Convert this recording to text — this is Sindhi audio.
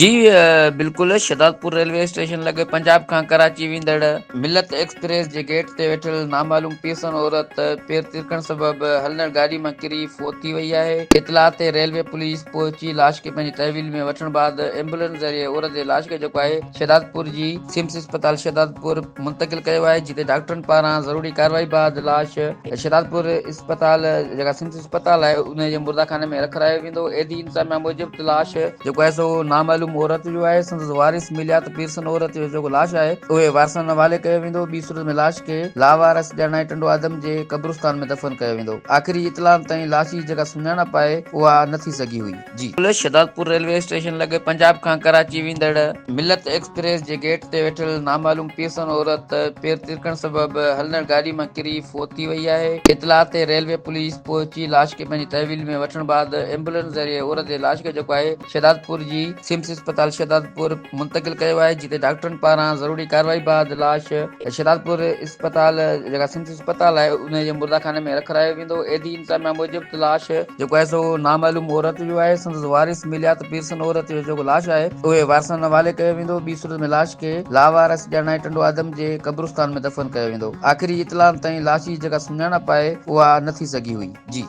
جي بلڪل شھدادپور ريلوي اسٽيشن لڳ پنجاب کان ڪراچي ويندڙ ملت ايڪسپريس جي گيٽ تي ويٺل نامعلوم پيرسن عورت پير ترڪڻ سبب ھلندڙ گاڏي مان ڪري فوت ٿي وئي آھي اطلاع تي ريلوي پوليس پهچي لاش کي پنھنجي تحويل ۾ وٺڻ بعد ايمبولينس ذريعي عورت جي لاش کي جيڪو آھي شهدادپور جي سمس اسپتال شهدادپور منتقل ڪيو آهي جتي ڊاڪٽرن پاران ضروري ڪارروائي بعد لاش شهدادپور اسپتال جيڪا سمس اسپتال آهي ان جي مرداخاني ۾ رکرايو ويندو عيدي انتظاميا موجب لاش جيڪو آهي سو نامعلوم عورت جو آهي سندس وارث مليا ته پيرسن عورت جو جيڪو لاش آهي اهي وارثن حوالي ڪيو ويندو ٻي صورت ۾ لاش کي لاوارث ڄاڻائي ٽنڊو آدم جي قبرستان ۾ دفن ڪيو ويندو آخري اطلاعن تائين لاش جي جيڪا سڃاڻپ آهي اها نه ٿي سگهي هئي جي پل شھدادپور ريلوي اسٽيشن لڳ پنجاب کان ڪراچي ويندڙ ملت ايڪسپريس جي گيٽ تي ويٺل نامعلوم پيرسن عورت پير ترڪڻ سبب ھلندڙ گاڏي مان ڪري فوت ٿي وئي آھي اطلاع تي ريلوي پوليس پهچي لاش کي پنھنجي تحويل ۾ وٺڻ بعد ايمبولينس ذريعي عورت جي لاش کي جيڪو آھي شھدادپور جي سمس اسپتال شھدادپور منتقل ڪيو آھي جتي ڊاڪٽرن پاران ضروري ڪارروائي بعد لاش شھدادپور اسپتال جيڪا سمس اسپتال آهي انهي جي مرداخاني ۾ رکرايو ويندو ايڌي انتظاميا موجب ته لاش جيڪو آهي سو نامعلوم عورت جو آهي سندس وارث مليا ته پيرسن عورت جو جيڪو لاش آهي اهي وارثن حوالي ڪيو ويندو ٻي صورت ۾ لاش کي لاوارث ڄاڻائي ٽنڊو آدم جي قبرستان ۾ دفن ڪيو ويندو آخري اطلاعن تائين لاش جي جيڪا سڃاڻپ آهي اها نه ٿي سگهي هئي جي